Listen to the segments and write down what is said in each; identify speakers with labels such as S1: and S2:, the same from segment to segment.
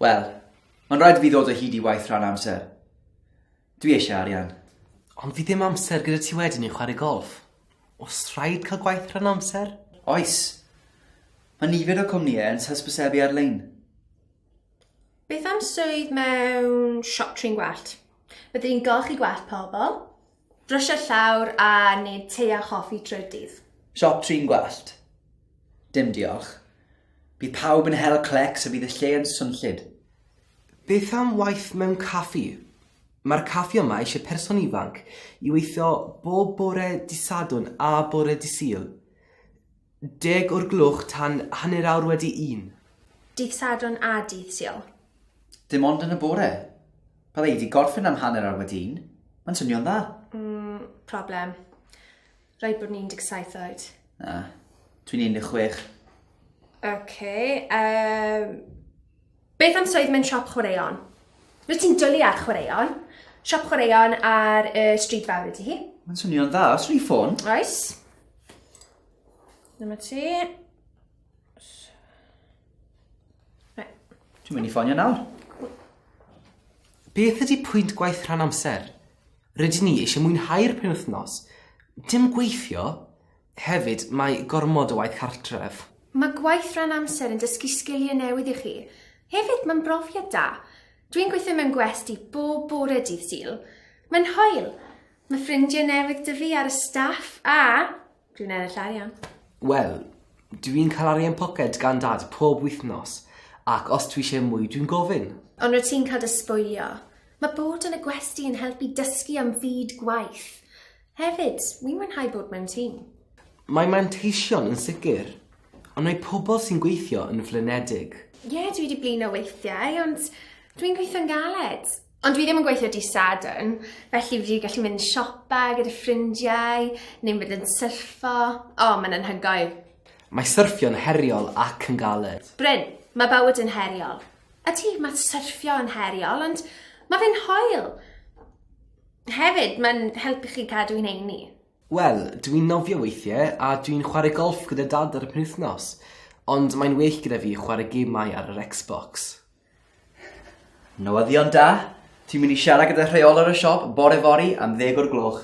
S1: Wel, mae'n rhaid i fi ddod o hyd i waith rhan amser. Dwi eisiau arian. Ond fi ddim
S2: amser gyda ti wedyn i chwarae golf. Os rhaid cael gwaith rhan amser? Oes.
S1: Mae nifer o cwmnïau yn hysbysebu ar-lein.
S3: Beth am swydd mewn siop trin gwallt? Byddwn i'n golchi gwallt pobl, brysio llawr a nid te a choffi trwy'r dydd. Siop trin gwallt?
S1: Dim diolch. Bydd pawb yn hel clecs a bydd y lle yn swnllyd. Beth
S2: am waith mewn caffi? Mae'r caffi yma eisiau person ifanc i weithio bob bore Dydd Sadwrn a bore Dydd Sul. Deg o'r gloch tan hanner awr wedi un. Dydd Sadwrn
S3: a Dydd Sul. Dim ond
S1: yn y bore. Bydda i 'di gorffen am hanner awr wedi un. Mae'n swnio'n dda. Mm, problem.
S3: Rhaid bod yn 17 oed. Na.
S1: Dwi'n 16. Ok, erm...
S3: Beth am swydd mewn siop chwaraeon? Rwyt ti'n dwlu ar chwaraeon. Siop chwaraeon ar y stryd fawr ydy hi. Mae'n swnio'n dda, os
S1: rwy'n ffôn. Oes.
S3: Dyma ti.
S1: Dwi'n mynd i ffonio nawr.
S2: Beth ydy pwynt gwaith rhan amser? Rydyn ni eisiau mwynhau'r penwythnos. Dim gweithio. Hefyd, mae gormod o waith cartref. Mae gwaith rhan
S3: amser yn dysgu sgiliau newydd i chi. Hefyd, mae'n brofiad da. Dwi'n gweithio mewn gwesty bob bore dydd Sul. Mae'n hwyl! Mae ffrindiau newydd da fi ar y staff a dwi'n ennill arian. Wel,
S2: dw i'n cael arian poced gan Dad pob wythnos ac os dwi eisiau mwy dwi'n gofyn. Ond rwyt ti'n cael dy
S3: sbwylio. Mae bod yn y gwesty yn helpu dysgu am fyd gwaith. Hefyd, wi'n mwynhau bod mewn tîm. Mae
S2: manteision yn sicr, ond mae pobl sy'n gweithio yn flinedig. Ie, dwi 'di blino
S3: weithiau, ond dwi'n gweithio'n galed. Ond dwi ddim yn gweithio dydd Sadwrn, felly fi 'di gallu mynd siopa gyda ffrindiau, neu mynd yn syrffo. O, mae'n anhygoel. Mae syrffio'n
S2: heriol ac yn galed. Bryn, mae bywyd
S3: yn heriol. Ydy, mae syrffio yn heriol, ond mae fe'n hoel. Hefyd, mae'n helpu chi cadw i'n heini. Wel, dw i'n
S2: nofio weithie a dw i'n chware golff gyda Dad ar y penwythnos, ond mae'n well gyda fi chware gemau ar yr Xbox.
S1: Newyddion da! Ti'n mynd i siarad gyda rheolwr y siop bore fory am ddeg o'r gloch.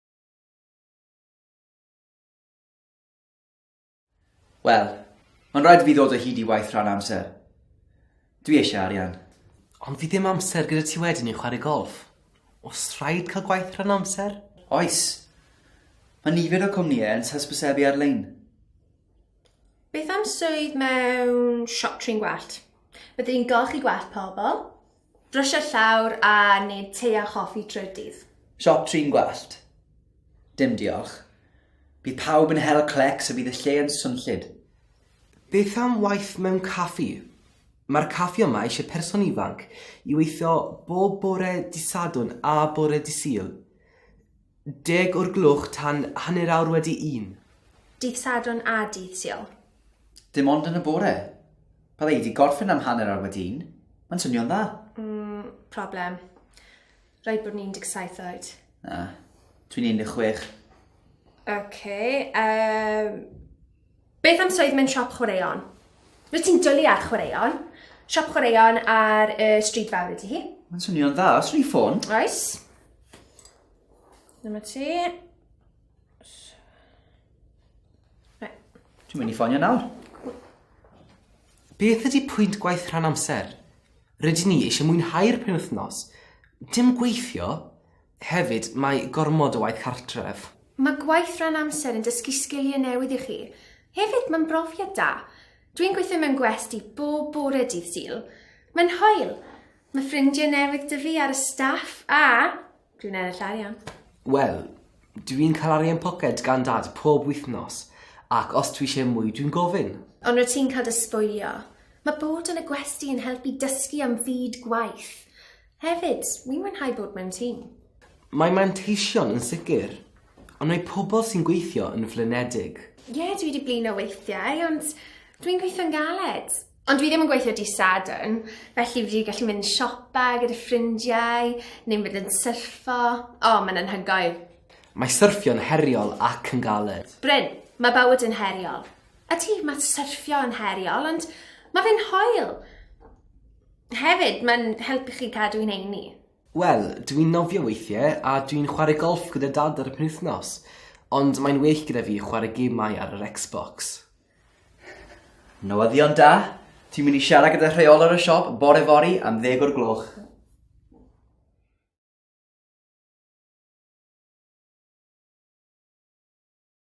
S1: Wel, mae'n rhaid i fi ddod o hyd i waith rhan amser. Dwi eisiau arian. Ond fi ddim
S2: amser gyda ti wedyn i chwarae golf. Os rhaid cael gwaith rhan amser? Oes.
S1: Mae nifer o cwmnïau yn hysbysebu ar-lein.
S3: Beth am swydd mewn siop trin gwallt? Bydde di'n golchi gwallt pobl. Brysio llawr a neud te a choffi trwy'r dydd. Siop trin gwallt?
S1: Dim diolch. Bydd pawb yn hel clecs a bydd y lle yn swnllyd. Beth
S2: am waith mewn caffi? Mae'r caffi yma eisiau person ifanc i weithio bob bore Dydd Sadwrn a bore Dydd Sul, deg o'r gloch tan hanner awr wedi un. Dydd Sadwrn
S3: a Dydd Sul. Dim ond yn
S1: y bore. Bydda i wedi gorffen am hanner awr wedi un. Mae'n swnio'n dda. Mm, problem.
S3: Rhaid bod ni'n 17 oed. Na,
S1: dwi'n 16. OK. Um,
S3: beth am swydd mewn siop chwaraeon? Rwyt ti'n dwlu ar chwaraeon? Siop chwaraeon ar y uh, stryd fawr ydy hi. Mae'n swnio'n dda, os
S1: rwy'n ffôn. Oes.
S3: Dyma ti.
S1: Dwi'n mynd i ffonio nawr. Beth
S2: ydi pwynt gwaith rhan amser? Rydyn ni eisiau mwynhau'r penwythnos, dim gweithio. Hefyd, mae gormod o waith cartref. Mae gwaith rhan
S3: amser yn dysgu sgiliau newydd i chi. Hefyd, mae'n brofiad da. Dwi'n gweithio mewn gwesty bob bore dydd Sul. Mae'n hwyl. Mae ffrindiau newydd 'da fi ar y staff a Dwi'n ennill arian. Wel,
S2: dwi'n cael arian poced gan dad pob wythnos, ac os dwi eisiau mwy, dwi'n gofyn. Ond rwyt ti'n cael dy
S3: sbwylio. Mae bod yn y gwesty yn helpu dysgu am fyd gwaith. Hefyd, wi'n mwynhau bod mewn tîm. Mae
S2: manteision yn sicr, ond mae pobl sy'n gweithio yn flinedig. Ie, dwi wedi blino
S3: weithiau, ond dwi'n gweithio'n galed. Ond dwi ddim yn gweithio di Sadwrn, felly fi wedi gallu mynd siopa gyda ffrindiau, neu mynd yn syrffo. O, oh, mae'n anhygoel. Mae syrffio'n
S2: heriol ac yn galed. Bryn, mae bywyd
S3: yn heriol. A ti, mae syrffio yn heriol, ond mae fe'n hoel. Hefyd, mae'n helpu chi cadw i'n eini. Wel, dwi'n
S2: nofio weithiau a dwi'n chwarae golf gyda dad ar y penwythnos, ond mae'n well gyda fi chwarae gemau ar yr Xbox.
S1: Newyddion da, ti'n mynd i siarad gyda rheolwr y siop bore fori am ddeg o'r gloch.